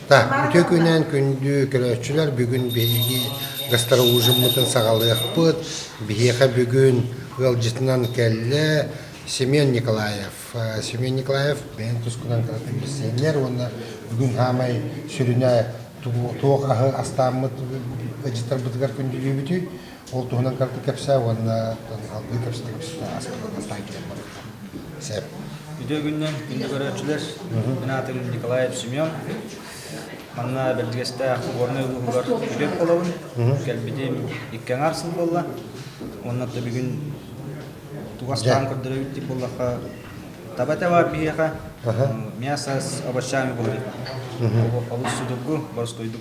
Да, үтүө күнүнэн күндү көрөөччүлэр бүгүн биһиги гастролужуммутун саҕалыахпыт. Биһиэхэ бүгүн ыалдьытынан кэллэ Семен Николаев. Семен Николаев бэйэҥ тускунан билсэннэр уонна бүгүн хаамай сүрүнэ туох аһы астааммыт ыдьыттарбытыгар күндүлүүбүтүй? Ол туһунан кырдык кэпсээ уонна салгыы кэпсэтэ туруммат. Сэп. Үтүөгүннэн күндү көрөөччүлэр, мен аатым Николаев Семен. Манна Бэрдигэстээх Горнай улууһугар үтүө буолабын. Кэлбитим икки аҥаар сыл буолла. Уонна да бүгүн тугастаан көрдөрөбүт дип боллахха таба это бар биһиэхэ мясо с овощами болли олус судургу боростойдук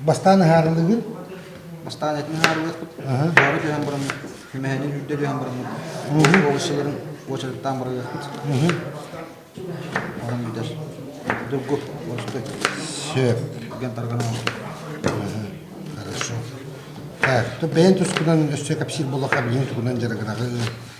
Бастаан ыһаарылыыгын? Бастаан этин ыһаарылыахпыт. Баары түһэн баран, мэһэни үрдэ түһэн баран, уобаччаларын уочараттаан барыахпыт. Оһон үрдэр. Дургу, уочартай. Сөп. Гэн таргана Хорошо. Так, то бэйэн тускунан өссө кэпсиир болоха билиҥи тугунан дьарыгыраҕы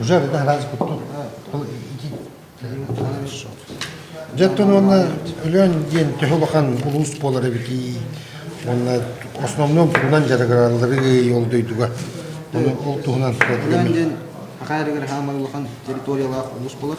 Уже видно разнику тут. Дьэттен уонна өлөөн диэн төһө улахан улуус буолар эбитий уонна основном тугунан дьарыгыраллары ол дойдуга оны ол туһунан өлөөн диэн акаярыгар хаамар улахан территориялаах улуус болар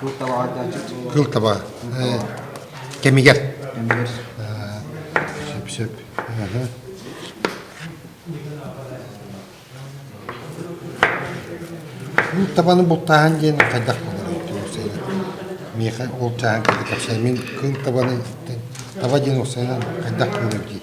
Кыл табаҕа айтааччыт. Кыл таба кэмигэр. Кэмигэр. Сөп-сөп. Кыл табаны бултааһын диэн хайдах болоруй? Миэхэ ол чааһын кытта кэпсээн мин кыл табаны таба диэн уопсайынан хайдах көрөр дии.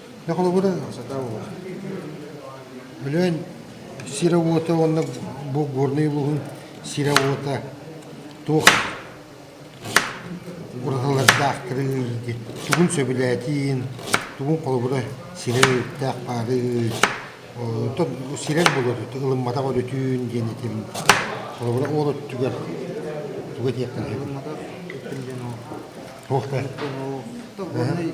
Да холобура, сатаабыла. Өлөөн сирэ уота уонна бу Горнай улууһун сирэ уота туох уратылардаах кырыыргы, тугун сөбүлээтиин, тугун холобура сирэ өрүттээх баарый, оттон сирэр болотут ылымматах өрүтүүн диэн этим. Холобура ол өттүгэр тугу этиэхтин сөбүн? Ылымматах өттүн диэн ол. Туох да? Ол Горнай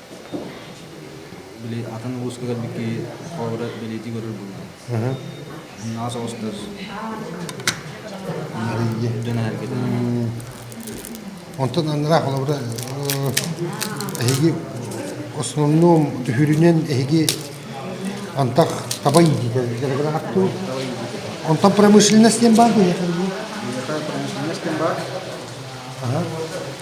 били атын улууска кэлбит киһи холобура бэлиэтии көрөр буллум. Ас оҕустар дьон эһэргэтэн Онтон аннараах холобура эһиги основном түһүрүнэн эһиги антах табай диитэ дэрэгэр аттуу онтон промышленность диэн баар диһэ промышленность диэн баар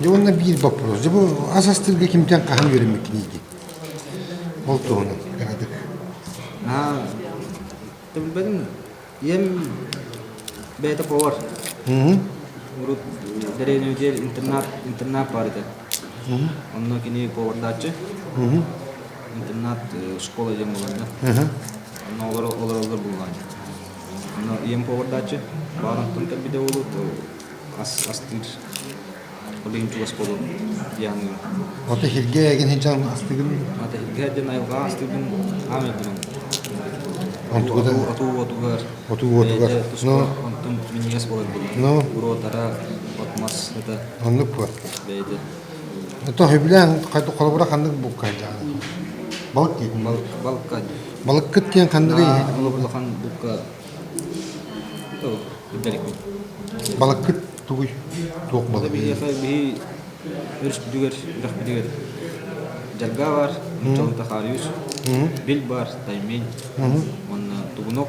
Дьэ уонна биир боппуруос. Дьэ бу ас астыырга кимтэн хаһан үөрэммиккиний дии? Ол туһунан эҕэтик. Ты билбэдиҥ ийэм бэйэтэ повар. Урут дэриэбинэ диэн интернат интернат бар этэ. Онно кини повардааччы. Интернат школа диэн буларда. Онно олор олороллор булган. Аны ийэм повардааччы, баар аттым кэлбитэ буолуо, ас астыыр, олень чугас буолуо дии аныгым. Ото сиргэ эгин сынчан астыгын. Ата сиргэ диэн айылҕа астыырбын хаам өлбүрүм. Онтугута? Отуу отугар. Отуу отугар. Ну, онтум миниэс болар булбут. Ну? Уротара, отмас это. Оннук бу. Бэйде. То хибилен холобура ханнык буккайдаан. Балк диетин. Балка Балыккыт диэн ханнык иһин? Улахан булка үрдэликпин. Балыккыт тугуй? Туох балык? Биһиэхэ биһи өрүспүтүгэр үрэхпитигэр дьарга бар, чолунта хаарыыс, бил бар, таймень уонна тугунок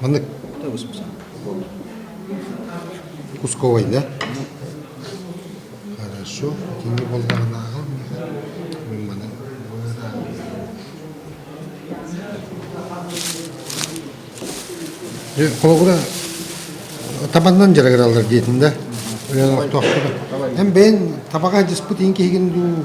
Маннык Кусковой, да? Хорошо. Итинник боллаҕынааҕы мин маны Холобура табаннан дьарыгыраллар диэтин да эн бэйэн табаҕа дьыспыт иин киһигин дуу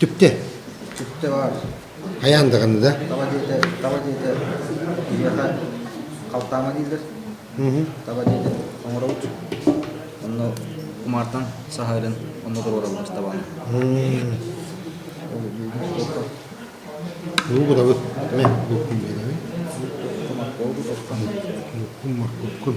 Түптэ. Түптэ баар. Хайаан даҕаны да? Таба диэтэ, таба диэтэ киһиэхэ халтаама дииллэр. Таба диэтэ оҥоробут. Онно кумаартан саһарын онно туруораллар табаны. Лугурабы. Мен луккун дедemi? Луккун марккун.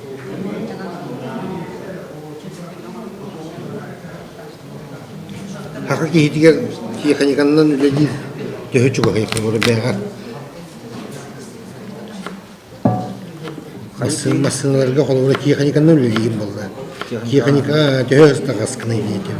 Саха киһитигэр механиканнан үлэлиир төһө чугаһый бэйэҕэ Хайсын массыыналарга холобура техниканнан үлэлиирим буолла. Техника төһө ыстаҕаскыный диэтим.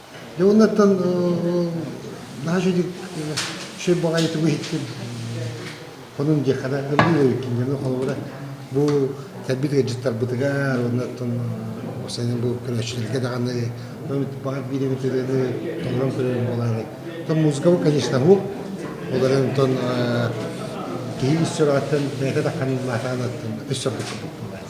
Дьэ оннуттан наһаа шей баҕайы тугу иһиттим хонун диэххэ да гыллыы кинигэни холобура бу кэлбит ыалдьыттарбытыгар оннуттан сэнэн бу көрөөччүлэргэ даҕаны баҕар биирин тыаны толорон көрөрүм буолаары то музыка бу конечно уһук олорон онтон киһи ис сүрэҕиттэн бэйэтэ да ханыллаатаан аттын өс соргуппут буолаары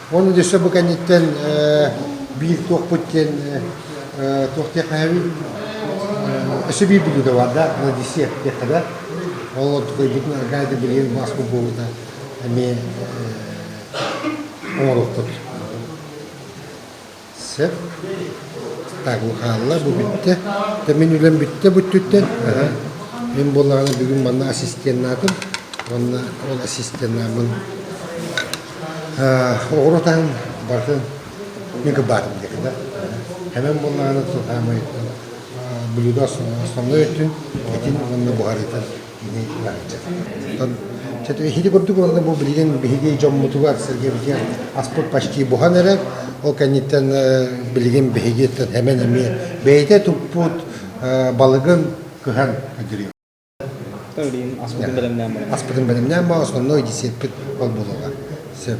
Ол өссө бу кэнниттэн биир туохпут диэн туох диэхпэһэбий өссө биир билиигэ бар да Одиссея диэххэ да ол такойбутун аргаа да билиэн маспыт буолута эмиэ оҥорохтор Сөп. Таһылҕаалла бу бүттэ. Мин үлэм бүттэ бу өттүттэн. Мин буоллаҕына бүгүн манна ассистеннаатым. Уонна ол ассистеннааммын оҕурутаан барытын мин кырбаатым диэки да. Эмэн буоллаҕына сатаамай блюдо основной өттүн, итин уонна буһарыытын Эһиги курдук буолла бу билигин биһиги дьоммутугар сэргэбитигэр аспыт почти буһан эрэр. Ол кэнниттэн билигин биһигиттэн эмэн эмиэ бэйэтэ туппут балыгын кыһан өдүрүyor. Аспытын бэлэмнээн бара. Аспытын бэлэмнээн бара, сонно десеппит ол болуга. Сөп.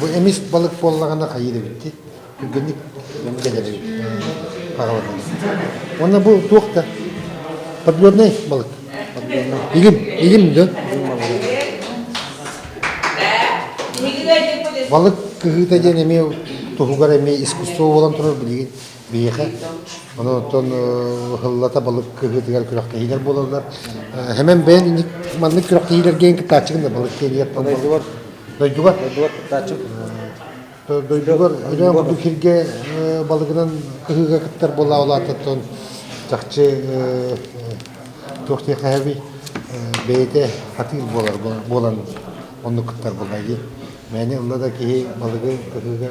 Бу эмис балык буоллаҕына хайыы эбитти түргэнник кэлэри хаҕалатан. Уонна бу туох да подводный балык. Подводный. Игим, игим да. Балык кыһыыта диэн эмиэ туһугар эмиэ искусство буолан турар билигин Биһиэхэ ону оттон ыһыллата балык кыһыытыгар күрэхтэһиилэр буолаллар. Хэмэн бэйэн маннык күрэхтэһиилэргэ кыттааччыгын да балык тиэрийэттэн дойдугар дойдугар дойдугар кыттааччым дойдугар ойоон курдук сиргэ балыгынан кыһыыга кыттар буола улаатыттан чахчы туох диэхэһэби бэйэтэ атыыр буолар буолан оннук кыттар буолла дии. Мээнэ ылла да киһи балыгы кыһыыга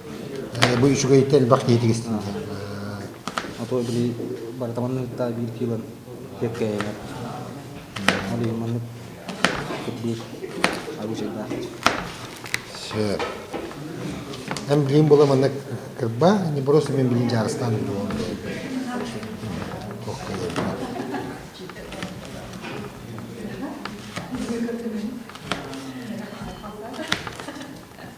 Бу үчүгэйтэ элбэх киһи тигистин диэн. А то били бары таманныытта биир киилан кэккэйэҥэр. Ол иһин маннык кыттыбыт оружейда. Сөп. Эн билим була маннык кырба, не просто мен билин жарыстан булуон. Ох кайыппат.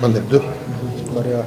Манныбду. Мария.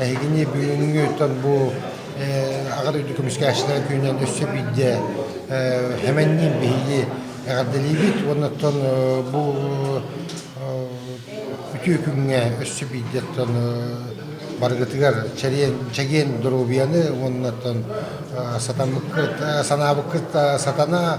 Эһигини бүгүҥҥү дьон бу Аҕа дойду көмүскээччилэрин күнүнэн өссө биирдэ Хэмэнниин биһиги эҕэрдэлиибит уонна оттон бу үтүө күҥҥэ өссө биирдэ оттон барыгытыгар чэгиэн доруобуйаны уонна оттон санаабыккыт сатана